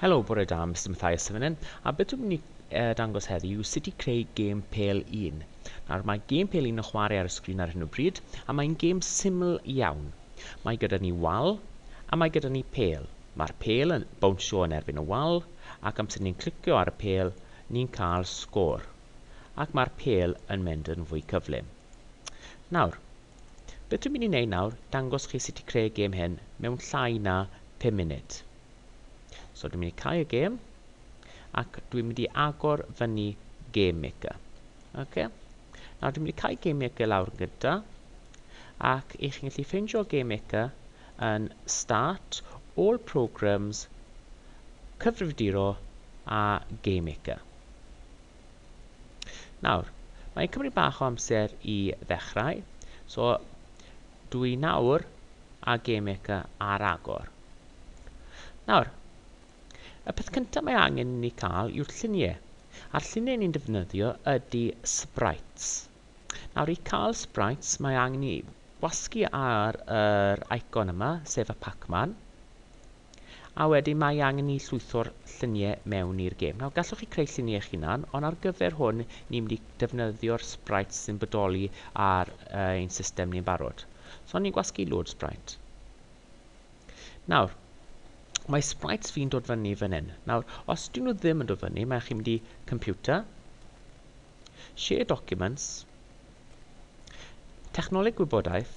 Helo, bore da, Mr Mathias Sefynen, a beth dwi'n mynd i uh, dangos heddi yw sut i creu gêm pel un. Nawr, mae gêm pel un yn chwarae ar y sgrin ar hyn o bryd, a mae'n gêm syml iawn. Mae gyda ni wal, a mae gyda ni pel. Mae'r pel yn bownsio yn erbyn y wal, ac amser ni'n clicio ar y pel, ni'n cael sgôr. Ac mae'r pel yn mynd yn fwy cyflym. Nawr, Be dwi'n mynd i neud nawr, dangos chi sut i creu y gêm hyn mewn llai na 5 munud. So dwi'n mynd i cau y gêm, ac dwi'n mynd i agor fyny Game Maker. Okay. Nawr dwi'n mynd i cau Game Maker lawr gyda, ac i chi'n gallu ffeindio Game Maker yn Start, All Programs, Cyfrifiaduro a Game Maker. Nawr, mae'n cymryd bach o amser i ddechrau, so dwi nawr a GameMaker ar agor. Nawr, y peth cyntaf mae angen i ni cael yw'r lluniau, a'r lluniau ni'n defnyddio ydy sprites. Nawr, i cael sprites mae angen i wasgu ar yr icon yma, sef y Pac-Man. A wedyn mae angen ni llwytho'r lluniau mewn i'r gêm. Nawr, gallwch chi creu lluniau eich hunan, ond ar gyfer hwn, ni'n mynd i defnyddio'r sprites sy'n bodoli ar uh, ein system ni'n barod. So, ni'n gwasgu load sprite. Nawr, mae sprites fi'n dod fyny fan hyn. Nawr, os dyn nhw ddim yn dod fyny, mae chi'n mynd i computer, Share documents, Technoleg gwybodaeth,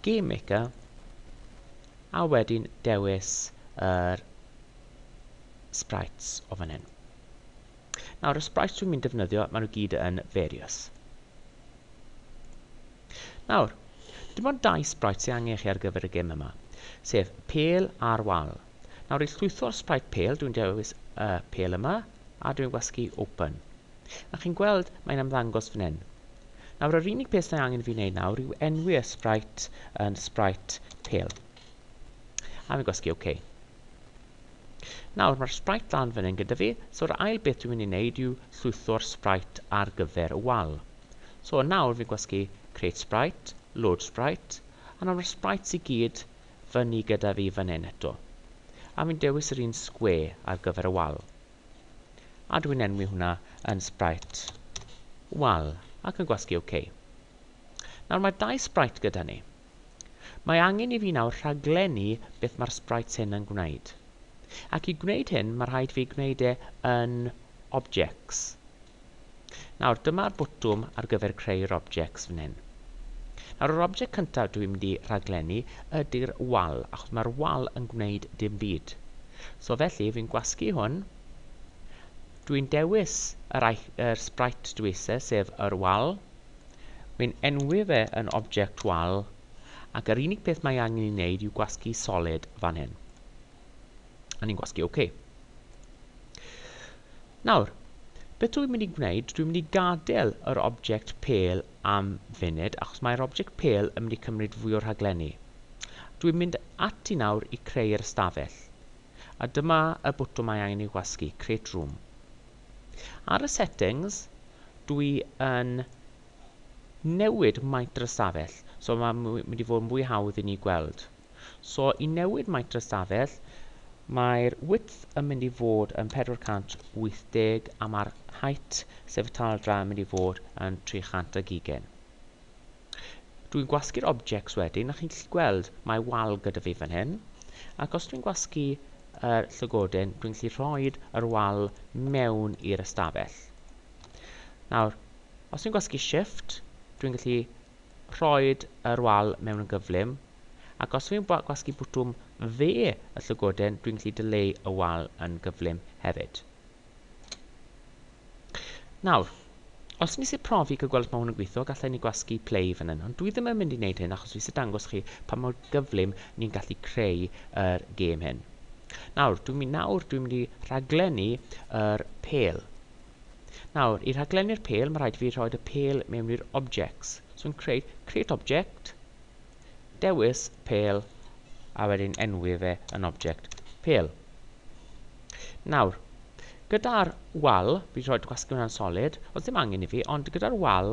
Game Maker, a wedyn dewis yr sprites o fan hyn. Nawr, y sprites dwi'n mynd defnyddio, maen nhw gyd yn various. Nawr, dim ond dau sprites sy'n angen chi ar gyfer y gym yma, sef pel a'r wal. Nawr i llwytho'r sprite pale dwi'n dewis y pale yma a dwi'n gwasgu open. A chi'n gweld mae'n ymddangos fan hyn. Nawr yr unig peth sy'n angen fi wneud nawr yw enwi y sprite yn sprite pale. A fi'n gwasgu OK. Nawr mae'r sprite lan fan hyn gyda fi, so'r ail beth dwi'n mynd i wneud yw llwytho'r sprite ar gyfer y wal. So nawr fi'n gwasgu create sprite, load sprite, a nawr mae'r sprites i gyd fyny gyda fi fan hyn eto, a fi'n dewis yr un sgwe ar gyfer y wal. A dw i'n enwi hwnna yn Sprite Wal, ac yn gwasgu OK. Nawr mae dau Sprite gyda ni. Mae angen i fi nawr rhaglennu beth mae'r Sprites hyn yn gwneud. Ac i gwneud hyn, mae rhaid fi gwneud e yn Objects. Nawr dyma'r botwm ar gyfer creu'r objects fan hyn. Nawr yr object cyntaf dwi'n mynd i rhaglennu ydy'r wal, achos mae'r wal yn gwneud dim byd. So felly fi'n gwasgu hwn, dwi'n dewis yr, yr sprite dwi eisiau, sef yr wal, wi'n enwi fe yn object wal, ac yr unig peth mae angen i wneud yw gwasgu solid fan hyn. A ni'n gwasgu OK. Nawr, beth dwi'n mynd i gwneud, dwi'n mynd i gadael yr object pel am funud, achos mae'r object pel yn mynd i cymryd fwy o'r rhaglenni. Dwi'n mynd ati nawr i creu'r ystafell. A dyma y bwtwm mae angen i wasgu, create room. Ar y settings, dwi yn newid maint yr ystafell, so mae'n mynd i fod yn fwy hawdd i ni gweld. So i newid maint y stafell, mae'r width yn mynd i fod yn 480 a mae'r height, sef y taldra, yn mynd i fod yn 300 ag ugain. Dwi'n gwasgu'r objects wedyn, a chi'n gallu gweld mae wal gyda fi fan hyn, ac os dwi'n gwasgu yr llygodyn, dwi'n gallu rhoi yr wal mewn i'r ystafell. Nawr, os dwi'n gwasgu shift, dwi'n gallu rhoi yr wal mewn yn gyflym, Ac os fi'n gwasgu botwm dde y llygoden, dwi'n gallu dileu y wal yn gyflym hefyd. Nawr, os nes i profi cael gweld os mae hwn yn gweithio, gallai ni gwasgu play fan hyn, ond dwi ddim yn mynd i wneud hyn achos fi eisiau dangos chi pa mor gyflym ni'n gallu creu yr gêm hyn. Nawr, dwi'n mynd nawr, dwi'n mynd i rhaglennu yr pel. Nawr, i rhaglennu'r pel, mae rhaid fi rhoi y pel mewn i'r objects. So yn creu create object, Dewis pêl a wedyn enwi fe yn object pêl. Nawr, gyda'r wal, fi'n rhoi gwasgu hwnna'n solid, os ddim angen i fi, ond gyda'r wal,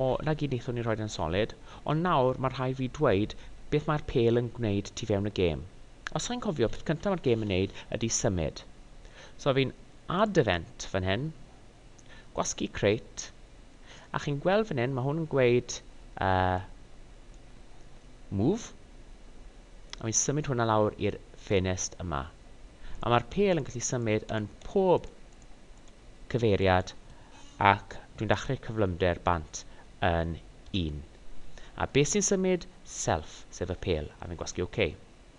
o, na gyd wnaethon ni rhoi yn solid, ond nawr mae rhai fi dweud beth mae'r pêl yn gwneud tu fewn y gêm. Os chi'n cofio, peth cyntaf mae'r gêm yn neud ydy symud. So fi'n add event fan hyn, Gwasgu crêt. A chi'n gweld fan hyn, mae hwn yn gweud uh, move. A fi'n symud hwnna lawr i'r ffenest yma. A mae'r pel yn gallu symud yn pob cyfeiriad ac dwi'n dachre'r cyflymder bant yn un. A beth sy'n symud? Self, sef y pel, a fi'n gwasgu OK.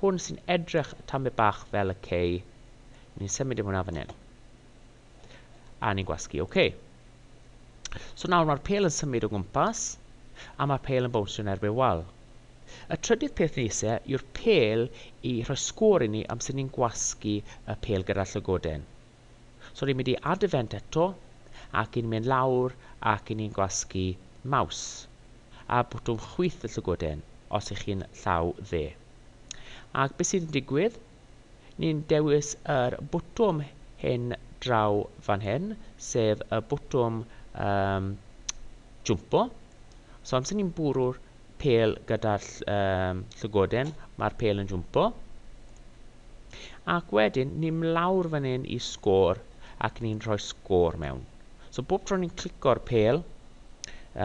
Hwn sy'n edrych tamed bach fel y cei. Ni'n symud i hwnna fan hyn. A ni'n gwasgu OK. So nawr mae'r pel yn symud o gwmpas, a mae'r pel yn bownsio yn erbyn wal. Y trydydd peth ni eisiau yw'r pel i rhoi sgôr i ni am sut ni'n gwasgu y pel gyda'r llygoden. So ni'n mynd i add event eto, ac ni'n mynd lawr ac ni'n gwasgu maws a bwtwm chwyth y llygoden os ych chi'n llaw dde. Ac beth sy'n digwydd? Ni'n dewis yr bwtwm hyn draw fan hyn, sef y bwtwm um, jwmpo. So amser ni'n bwrw'r pêl gyda'r llygoden, mae'r pêl yn jwmpo. Ac wedyn, ni'n mlawr fan hyn i sgôr ac ni'n rhoi sgôr mewn. So bob tro ni'n clico'r pêl,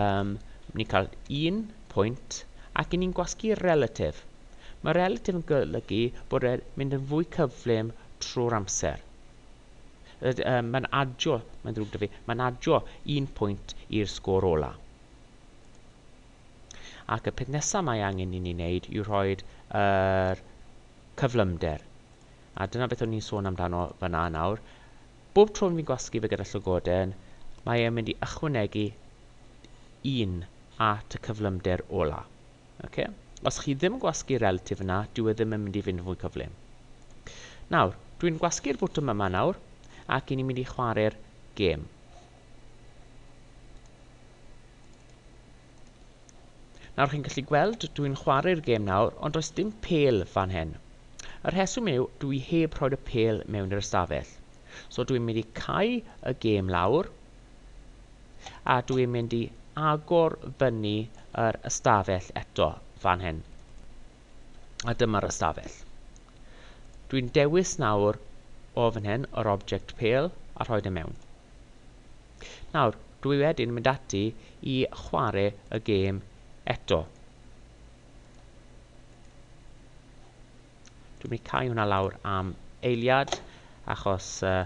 um, ni'n cael un pwynt ac ni'n gwasgu relatif. Mae relatif yn golygu bod e'n mynd yn fwy cyflym trwy'r amser. Um, mae'n adio, mae'n ddrwg da fi, mae'n adio un pwynt i'r sgôr ola. Ac y peth nesaf mae angen i ni wneud yw rhoi yr cyflymder. A dyna beth o'n i'n sôn amdano fyna nawr. Bob tro fi'n gwasgu fe gyda llygoden, mae e'n mynd i ychwanegu un at y cyflymder ola. Okay? Os chi ddim yn gwasgu relatif yna, dyw e ddim yn mynd i fynd yn fwy cyflym. Nawr, dwi'n gwasgu'r bwtwm yma nawr, ac i ni'n mynd i chwarae'r gêm. Nawr chi'n gallu gweld dw i'n chwarae'r gêm nawr ond does dim pêl fan hyn. Y rheswm yw dw i heb rhoi'r y pêl mewn i'r ystafell. So dw i'n mynd i cau y gêm lawr a dw i'n mynd i agor fyny yr ystafell eto fan hyn. A dyma'r ystafell. Dwi'n dewis nawr o fan hyn yr object pale a rhoi fe mewn. Nawr, dwi wedyn mynd ati i chwarae y gêm eto. Dwi'n mynd i cau hwnna lawr am eiliad achos uh,